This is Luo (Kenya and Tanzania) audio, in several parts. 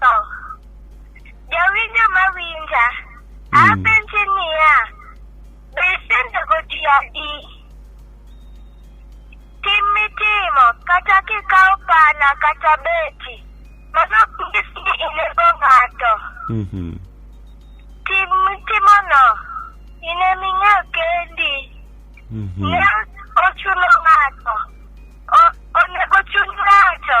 to. Jawinjo mawinja, apenji niya, be isenego ji adi? Tim mitimo kata kikawo pala kata beti, mano ok nyis ni inego ng'ato. Mhm. Tim mitimono, in ema ing'eyo kendi. Mhm. Ne ochuno ng'ato. O- Onego chun ng'ato.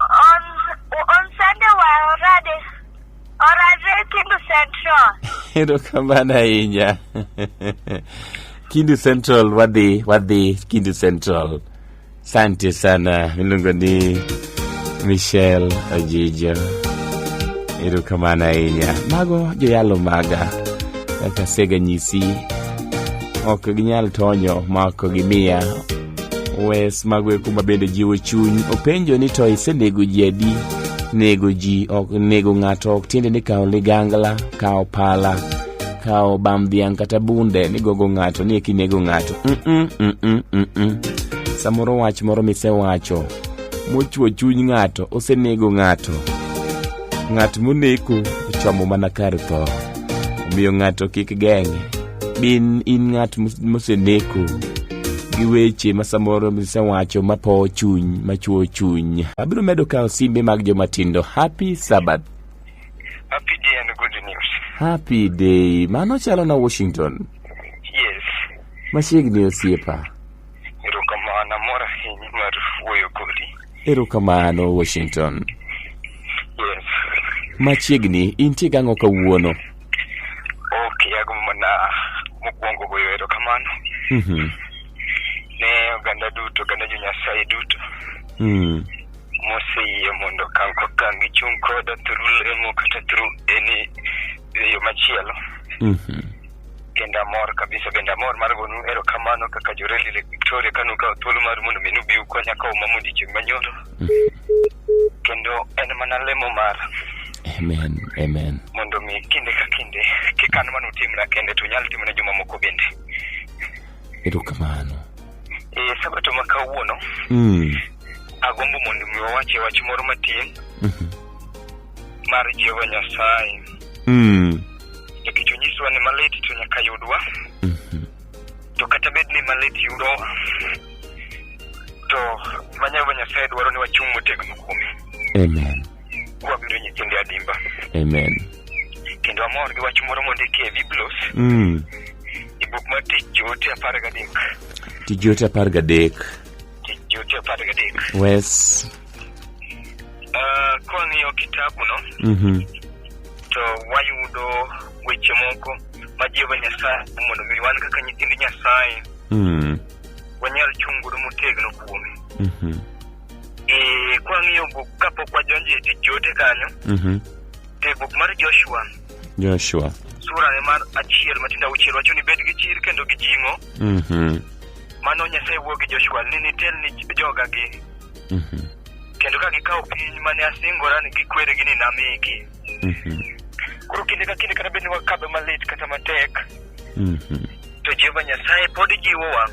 On, on Sunday waorade orade Kindu Central. erokamano ahinya kindu central wadhi wadhi kindu central sante sana miluongo ni michel ojijo erokamano ahinya mago joyalo maga kaka sega nyisi ok ginyal tonyo ma ok gimiya Wes magwe kuma bende jiwo chuny openjo ni to isenego ji adi nego ji ok nego ng'ato ok tiende ni kawo ligangla kawo pala kawo bam dhiang' kata bunde ni gogo ng'ato ni eki nego ng'ato Mm-mm, mm-mm, mm-mm. samoro wach moro misewacho mochwo chuny ng'ato osenego ng'ato Ng'at moneko chomo mana kar tho, omiyo ng'ato kik geng'e. Bin in ng'at moseneko gi weche ma samoro misewacho ma po chuny ma chuo chuny. Abiro medo kawo simbe mag joma tindo. Happy Sabbath. Happy day and good news. Happy day. Mano chalo na Washington. Yes. Machiegni osiepa. Erokamano Washington. Yes. Machiegni intie gang'o kawuono? Ok, yago mana mokwongo goyo erokamano. Mhm. Ne oganda duto, oganda jo Nyasaye duto. Mm. Moseyie mondo kang' ko kang' gichung' koda through lemo kata through any e yo machielo. Mhm. kendo amor kabisa bende amor mar gonu erokamano kaka joreli lake victoria kanu kawo thuolo mar mondo mi nubi ukonya kawo mama odiechieng' manyoro kendo en mana lemo mar amen amen mondo mi kinde ka kinde kik an mana utimna kende to unyal timone jomamoko bende erokamano e sabato ma kawuono mm. agombo mondo mi wawache wach moro matin Mhm. mar jehova nyasaye Mm. nikech onyisowa ni malit to nyaka yudwa Mhm. to kata bed ni malit yudowa to ma Jehova Nyasaye dwaro ni wachung' motegno kuome Amen. kwabedo nyithinde adimba Amen. kendo amor gi wach moro mondiki e Biblos Mm. e buk mar tich joote apar gadek Tijoote apar gadek. tich joote apar gadek Wes. Uh, kwang'iyo kitabuno Mhm. to wayudo weche moko ma Jehova Nyasaye mondo mi wan kaka nyithind Nyasaye Mm. wanyal chung' godo motegno kuome. Mhm. Eh, kwang'iyo buk kapok wadonjo e tich joote kanyo, Mhm. e buk mar Joshua Joshua. sura ne mar achiel matindo auchiel wacho ni bed gi chir kendo gi jing'o Mhm. mano Nyasaye wuo gi Joshua ni nitel ni jogagi Mhm. kendo ka gikawo piny mane asingora ni gikweregi ni namigi Mhm. koro kinde ka kinde kata bed ni wakadho malit kata matek Mhm. to jehova nyasaye pod jiwowa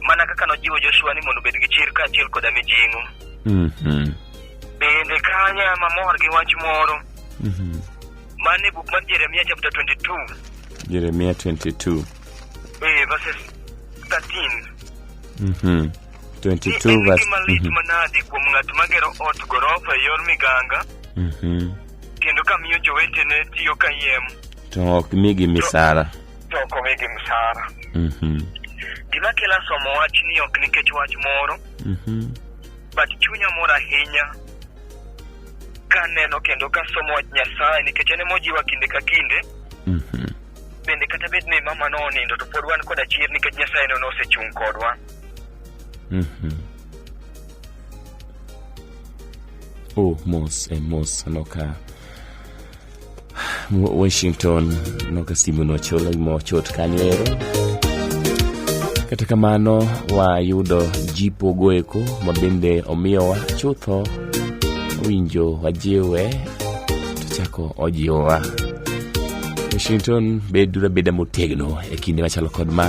mana kaka nojiwo joshua ni mondo obed gi chir kaachiel koda mijing'o Mhm. bende kanya mamor gi wach moro Mhm. mane buk mar jeremia chapter 22 Jeremia 22. Eh, verses 13. Mhm. 22 En verse. gima lit Mhm. manadi kuom ng'at magero ot gorofa e yor miganga Mhm. kendo kamiyo jowetene tiyo kayiem To ok migi misara. to ok omigi msara. Mhm. Gima kela somo wachni ok nikech wach moro, Mhm. but chunya mor ahinya kaneno kendo kasomo wach Nyasaye nikech en emojiwa kinde ka kinde Mhm. bende kata bed ni mama no onindo to pod wan koda chir nikech nyasaye no nosechung' kodwa Mhm. Oh, mos e mos noka Wa- Washington noka simu nochola mochot kanyo ero. Kata kamano wayudo jipo goeko ma bende omiyowa chutho winjo wajiwe to chako ojiwowa. Washington, bedura beda motegno e kinde machalo kod ma